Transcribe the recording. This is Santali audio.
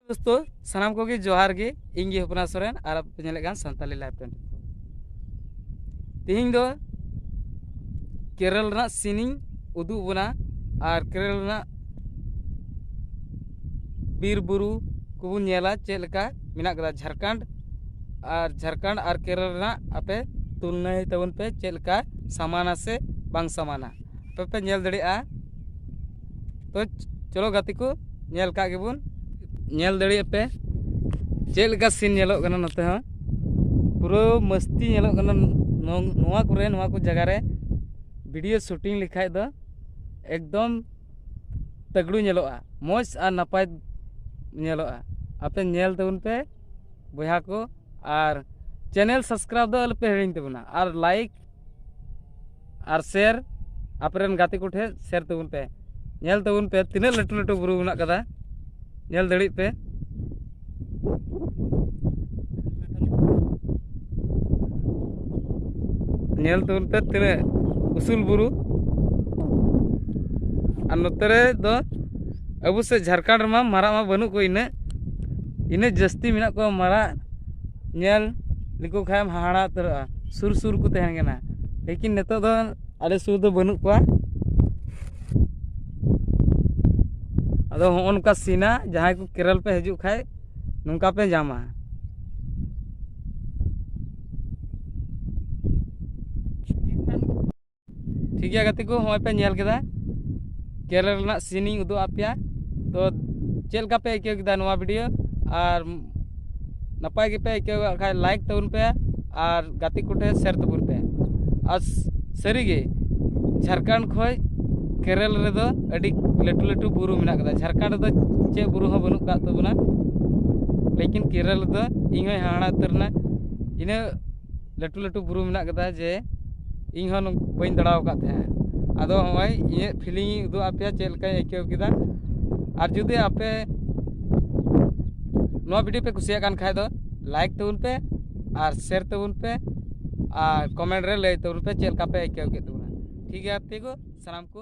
ᱫᱳᱥᱛᱳ ᱥᱟᱱᱟᱢ ᱠᱚᱜᱮ ᱡᱚᱦᱟᱨ ᱜᱮ ᱤᱧ ᱜᱮ ᱦᱚᱯᱚᱱᱟ ᱥᱚᱨᱮᱱ ᱟᱨ ᱟᱯᱮ ᱯᱮ ᱧᱮᱞᱮᱫ ᱠᱟᱱ ᱥᱟᱱᱛᱟᱞᱤ ᱞᱟᱭᱤᱵᱽ ᱴᱮᱱ ᱛᱮᱦᱮᱧ ᱫᱚ ᱠᱮᱨᱚᱞ ᱨᱮᱱᱟᱜ ᱥᱤᱱᱤᱧ ᱩᱫᱩᱜ ᱵᱚᱱᱟ ᱟᱨ ᱠᱮᱨᱚᱞ ᱨᱮᱱᱟᱜ ᱵᱤᱨ ᱵᱩᱨᱩ ᱠᱚᱵᱚᱱ ᱧᱮᱞᱟ ᱪᱮᱫ ᱞᱮᱠᱟ ᱢᱮᱱᱟᱜ ᱠᱟᱫᱟ ᱡᱷᱟᱲᱠᱷᱚᱸᱰ ᱟᱨ ᱡᱷᱟᱲᱠᱷᱚᱸᱰ ᱟᱨ ᱠᱮᱨᱚᱞ ᱨᱮᱱᱟᱜ ᱟᱯᱮ ᱛᱩᱞᱱᱟᱹᱭ ᱛᱟᱵᱚᱱ ᱯᱮ ᱪᱮᱫ ᱞᱮᱠᱟ ᱥᱟᱢᱟᱱᱟ ᱥᱮ ᱵᱟᱝ ᱥᱟᱢᱟᱱᱟ ᱟᱯᱮ ᱯᱮ ᱧᱮᱞ ᱫᱟᱲᱮᱭᱟᱜᱼᱟ ᱛᱚ ᱪᱚᱞᱚ ᱜᱟᱛᱮ ᱠᱚ ᱧᱮᱞ ᱠᱟᱜ ᱜᱮᱵᱚᱱ ᱧᱮᱞ ᱫᱟᱲᱮᱭᱟᱜ ᱯᱮ ᱪᱮᱫ ᱞᱮᱠᱟ ᱥᱤᱱ ᱧᱮᱞᱚᱜ ᱠᱟᱱᱟ ᱱᱚᱛᱮ ᱦᱚᱸ ᱯᱩᱨᱟᱹ ᱢᱟᱹᱥᱛᱤ ᱧᱮᱞᱚᱜ ᱠᱟᱱᱟ ᱱᱚᱣᱟ ᱠᱚᱨᱮ ᱱᱚᱣᱟ ᱠᱚ ᱡᱟᱭᱜᱟ ᱨᱮ ᱵᱷᱤᱰᱤᱭᱳ ᱥᱩᱴᱤᱝ ᱞᱮᱠᱷᱟᱡ ᱫᱚ ᱮᱠᱫᱚᱢ ᱛᱟᱜᱽᱲᱩ ᱧᱮᱞᱚᱜᱼᱟ ᱢᱚᱡᱽ ᱟᱨ ᱱᱟᱯᱟᱭ ᱧᱮᱞᱚᱜᱼᱟ ᱟᱯᱮ ᱧᱮᱞ ᱛᱟᱵᱚᱱ ᱯᱮ ᱵᱚᱭᱦᱟ ᱠᱚ ᱟᱨ ᱪᱮᱱᱮᱞ ᱥᱟᱵᱥᱠᱨᱟᱭᱤᱵᱽ ᱫᱚ ᱟᱞᱚᱯᱮ ᱦᱤᱲᱤᱧ ᱛᱟᱵᱚᱱᱟ ᱟᱨ ᱞᱟᱭᱤᱠ ᱟᱨ ᱥᱮᱨ ᱟᱯᱮᱨᱮᱱ ᱜᱟᱛᱮ ᱠᱚᱴᱷᱮᱱ ᱥᱮᱨ ᱛᱟᱵᱚᱱ ᱯᱮ ᱧᱮᱞ ᱛᱟᱵᱚᱱ ᱯᱮ ᱛᱤᱱᱟᱹᱜ ᱞᱟᱹᱴᱩ ᱞᱟᱹᱴᱩ ᱵᱩᱨᱩ ᱢᱮᱱᱟᱜ ᱠᱟᱫᱟ ᱧᱮᱞ ᱫᱟᱲᱮᱜ ᱯᱮ ᱧᱮᱞ ᱛᱟᱵᱚᱱ ᱯᱮ ᱛᱤᱱᱟᱹᱜ ᱩᱥᱩᱞ ᱵᱩᱨᱩ ᱟᱨ ᱱᱚᱛᱮ ᱨᱮ ᱫᱚ ᱟᱵᱚ ᱥᱮᱫ ᱡᱷᱟᱲᱠᱷᱚᱸᱰ ᱨᱮᱢᱟ ᱢᱟᱨᱟᱜ ᱢᱟ ᱵᱟᱹᱱᱩᱜ ᱠᱚ ᱤᱱᱟᱹᱜ ᱤᱱᱟᱹᱜ ᱡᱟᱹᱥᱛᱤ ᱢᱮᱱᱟᱜ ᱠᱚᱣᱟ ᱢᱟᱨᱟᱜ ᱧᱮᱞ ᱞᱮᱠᱚ ᱠᱷᱟᱱ ᱮᱢ ᱦᱟᱦᱟᱲᱟ ᱩᱛᱟᱹᱨᱚᱜᱼᱟ ᱥᱩᱨ ᱥᱩᱨ ᱠᱚ ᱛᱟᱦᱮᱱ ᱠᱟᱱᱟ ᱞᱮᱠᱤᱱ ᱱᱤᱛᱚᱜ ᱫᱚ ᱟᱞᱮ ᱥᱩᱨ ᱨᱮᱫᱚ ᱵᱟᱹᱱᱩᱜ ᱠᱚᱣᱟ ᱟᱫᱚ ᱦᱚᱸᱜᱼᱚ ᱱᱚᱝᱠᱟ ᱥᱤᱱᱟ ᱡᱟᱦᱟᱸᱭ ᱠᱚ ᱠᱮᱨᱟᱞ ᱯᱮ ᱦᱤᱡᱩᱜ ᱠᱷᱟᱱ ᱱᱚᱝᱠᱟ ᱯᱮ ᱧᱟᱢᱟ ᱴᱷᱤᱠ ᱜᱮᱭᱟ ᱜᱟᱛᱮ ᱠᱚ ᱱᱚᱜᱼᱚᱭ ᱯᱮ ᱧᱮᱞ ᱠᱮᱫᱟ ᱠᱮᱨᱟᱞᱟ ᱨᱮᱱᱟᱜ ᱥᱤᱱ ᱤᱧ ᱩᱫᱩᱜ ᱟᱫ ᱯᱮᱭᱟ ᱛᱚ ᱪᱮᱫ ᱞᱮᱠᱟ ᱯᱮ ᱟᱹᱭᱠᱟᱹᱣ ᱠᱮᱫᱟ ᱱᱚᱣᱟ ᱵᱷᱤᱰᱤᱭᱳ ᱟᱨ ᱱᱟᱯᱟᱭ ᱜᱮᱯᱮ ᱟᱹᱭᱠᱟᱹᱣ ᱠᱟᱜ ᱠᱷᱟᱡ ᱞᱟᱭᱤᱠ ᱛᱟᱵᱚᱱ ᱯᱮ ᱟᱨ ᱜᱟᱛᱮ ᱠᱚᱴᱷᱮᱱ ᱥᱮᱭᱟᱨ ᱛᱟᱵᱚᱱ ᱯᱮ ᱟᱨ ᱥᱟᱹᱨᱤᱜᱮ ᱡᱷᱟᱲᱠᱷᱚᱸᱰ ᱠᱷᱚᱡ ᱠᱮᱨᱟᱞ ᱨᱮᱫᱚ ᱟᱹᱰᱤ ᱞᱟᱹᱴᱩ ᱞᱟᱹᱴᱩ ᱵᱩᱨᱩ ᱢᱮᱱᱟᱜ ᱠᱟᱫᱟ ᱡᱷᱟᱲᱠᱷᱚᱸᱰ ᱨᱮᱫᱚ ᱪᱮᱫ ᱵᱩᱨᱩ ᱦᱚᱸ ᱵᱟᱹᱱᱩᱜ ᱠᱟᱜ ᱛᱟᱵᱚᱱᱟ ᱞᱮᱠᱤᱱ ᱠᱮᱨᱟᱞᱟ ᱨᱮᱫᱚ ᱤᱧ ᱦᱚᱸᱧ ᱦᱟᱦᱟᱲᱟ ᱩᱛᱟᱹᱨᱮᱱᱟ ᱤᱱᱟᱹ ᱞᱟᱹᱴᱩ ᱞᱟᱹᱴᱩ ᱵᱩᱨᱩ ᱢᱮᱱᱟᱜ ᱠᱟᱫᱟ ᱡᱮ ᱤᱧ ᱦᱚᱸ ᱵᱟᱹᱧ ᱫᱟᱬᱟ ᱟᱠᱟᱫ ᱛᱟᱦᱮᱸᱫ ᱟᱫᱚ ᱱᱚᱜᱼᱚᱭ ᱤᱧᱟᱹᱜ ᱯᱷᱤᱞᱤᱝ ᱤᱧ ᱩᱫᱩᱜ ᱟᱯᱮᱭᱟ ᱪᱮᱫ ᱞᱮᱠᱟᱧ ᱟᱹᱭᱠᱟᱹᱣ ᱠᱮᱫᱟ ᱟᱨ ᱡᱩᱫᱤ ᱟᱯᱮ ᱱᱚᱣᱟ ᱵᱷᱤᱰᱤᱭᱳ ᱯᱮ ᱠᱩᱥᱤᱭᱟᱜ ᱠᱟᱱ ᱠᱷᱟᱡ ᱫᱚ ᱞᱟᱭᱤᱠ ᱛᱟᱵᱚᱱ ᱯᱮ ᱟᱨ ᱥᱮᱭᱟᱨ ᱛᱟᱵᱚᱱ ᱯᱮ ᱟᱨ ᱠᱚᱢᱮᱱᱴ ᱨᱮ ᱞᱟᱹᱭ ᱛᱟᱵᱚᱱ ᱯᱮ ᱪᱮᱫ ᱞᱮᱠᱟ ᱯᱮ ᱟᱹᱭᱠᱟᱹᱣ ᱠᱮᱫ ᱛᱟᱵᱚᱱᱟ ᱴᱷᱤᱠ ᱜᱮᱭᱟ ᱛᱮᱜᱳ ᱥᱟᱱᱟᱢ ᱠᱚ